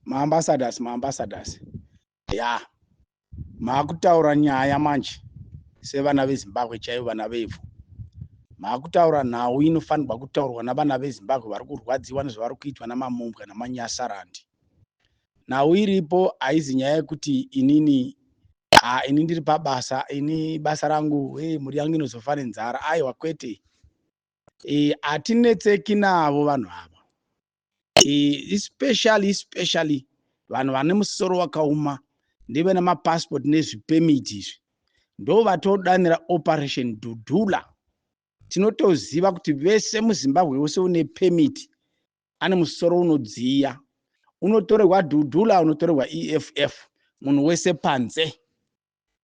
maambassadors maambassadors ya maakutaura nyaya manje sevana vezimbabwe chaivo vana vevhu maakutaura nhau inofanirwa kutaurwa navana vezimbabwe vari kurwadziwa nezvavari kuitwa namamumbwa namanyasarandi nhau iripo haizi nyaya yekuti inini ha ini ndiri pabasa ini basa rangu e mhuri yangu inozofa nenzara aiwa kwete e, hatinetseki navo vanhu ava especially especially vanhu vane musoro wakauma ndive nemapassport nezvipemiti izvi ndo vatodanira operation dudula tinotoziva kuti vese muzimbabwe wese une pemiti ane musoro unodziya unotorerwa dudula unotorerwa eff munhu wese panze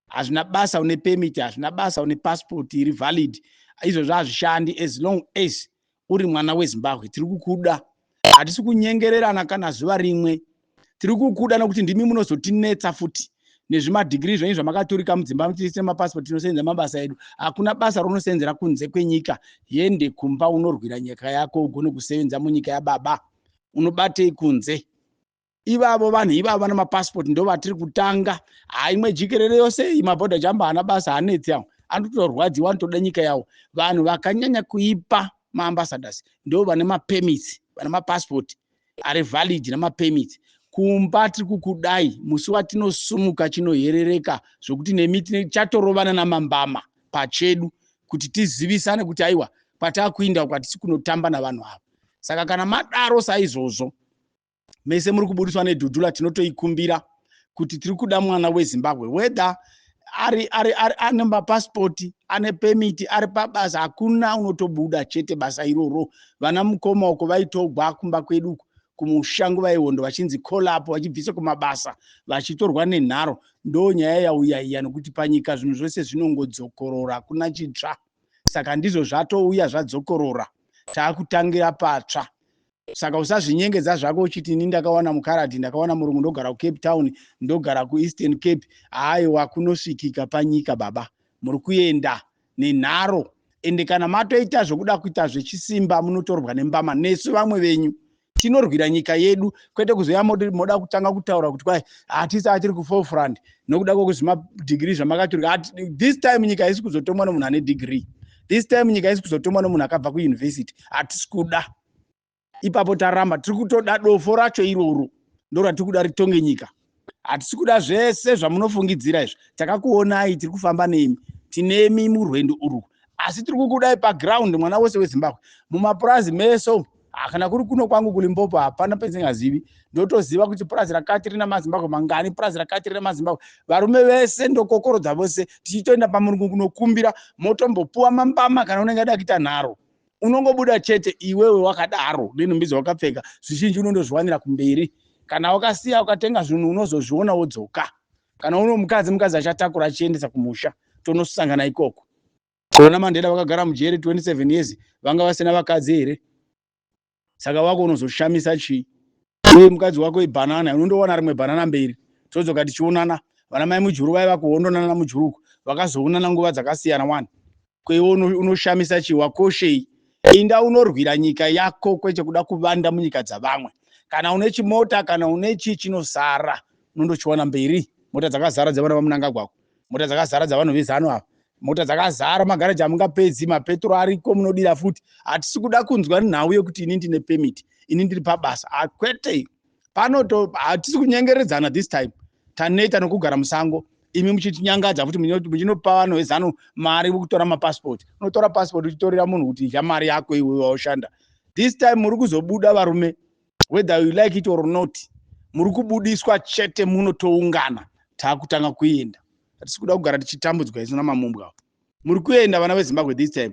hazvina basa une permit hazvina basa une passport iri valid izvozvo hazvishandi as long as uri mwana wezimbabwe tiri kukuda hatisi kunyengererana kana zuva rimwe tiri kukuda nokuti ndimi munozotinetsa futi nezvimadhigiri zvenyu zvamakaturika mudzimba muchiise mapasipoti tinosenza mabasa edu hakuna basa raunosenzera kunze kwenyika yende kumba unorwira nyika yako ugone kusevenza munyika yababa unobatei kunze ivavo vanhu ivavo vana mapasipoti ndo vatiri kutanga haa imwe jikerere yose iyi mabhodha jamba haana basa hanetsi awo anotorwadziwa anotoda nyika yawo vanhu vakanyanya kuipa maambasadors ndo vane mapemits vana mapasipoti ari valid nemapemits kumba tiri kukudai musi watinosumuka chinoherereka zvokuti nemi chatorovana namambama pachedu kuti tizivisane kuti aiwa kwatakuinda uko hatisi kunotamba navanhu ava saka kana madaro saizvozvo mese muri kubudiswa nedhudhula tinotoikumbira kuti tiri kuda mwana wezimbabwe whether ari ari ari ane mapasipoti ane pemiti ari pabasa hakuna unotobuda chete basa iroro vana mukoma uko vaitogwa kumba kwedu uko kumusha nguva yehondo vachinzi colapo vachibvisa kumabasa vachitorwa nenharo ndo nyaya yauya iya nokuti panyika zvinhu zvose zvinongodzokorora kuna chitsva saka ndizvo zvatouya zvadzokorora taakutangira patsva saka usazvinyengedza zvako uchiti ini ndakawana mukaradhi ndakawana murungu ndogara kucape town ndogara kueastern cape aiwa kunosvikika panyika baba muri kuenda nenharo ende kana matoita zvokuda kuita zvechisimba munotorwa nembama nesu vamwe venyu tinorwira nyika yedu kwete kuzoya moda kutanga kutaura kuti kwai hatisi atiri kuforefront nokuda kwekuti zvimadigiri zvamakaturika this time nyika haisi kuzotomwa nomunhu ane digiri this time nyika haisi kuzotomwa nomunhu akabva kuyunivhesiti hatisi kuda ipapo taramba tiri kutoda dofo racho iroro ndoratiri kuda ritonge nyika hatisi kuda zvese zvamunofungidzira izvi takakuonai tiri kufamba nemi tinemi murwendo urwu asi tiri kukudai paground mwana wese wezimbabwe mumapurazi meso kana kuri kuno kwangu kulimpopo hapana penzingazivi ndotoziva kuti purazi rakati rina mazimbabwe mangani purazi rakati rina mazimbabwe varume vese ndokokorodza vose tichitoenda pamurungu kunokumbira motombopuwa mambama kana unenge ada kuita nharo unongobuda chete iwewe wakadaro nenhumbi dzawakapfeka zvizhinji unondozviwanira kumberi kana wakasiya ukatenga zvinhu unozozviona wodzoka kana uno mukadzi mukadzi achatakura achiendesa kumusha tonosangana ikoko kona mandeda vakagara mujeri 27 years vanga vasina vakadzi here saka wako unozoshamisa chii uye mukadzi wako ibhanana unondowana rimwe bhanana mberi todzoka tichionana vana mai mujuru vai vakuhondonana namujuruko vakazoonana nguva dzakasiyana wani kweiwo unoshamisa chii wakoshei inda unorwira nyika yako kwete kuda kuvanda munyika dzavamwe kana une chimota kana une chii chinosara unondochiwana mberi mota dzakazara dzevana vamunangagwako mota dzakazara dzavanhu vezanu ava mota dzakazara magaraji amungapedzi mapetro ariko munodira futi hatisi kuda kunzwa nhau yekuti ini ndine pemit ini ndiri pabasa ah, kwete pano hatisi kunyengeredzana this time taneta nokugara musango imi muchitinyangadza futi muchinopa vanhu vezanu mari kutora mapasipoti unotora pasipoti uchitorera munhu kuti idya mari yako iwe waushanda this time muri kuzobuda varume whether you like it or not muri kubudiswa chete muno toungana taakutanga kuenda hatisi kuda kugara tichitambudzwa isu namamumbwa muri kuenda vana vezimbabwe this time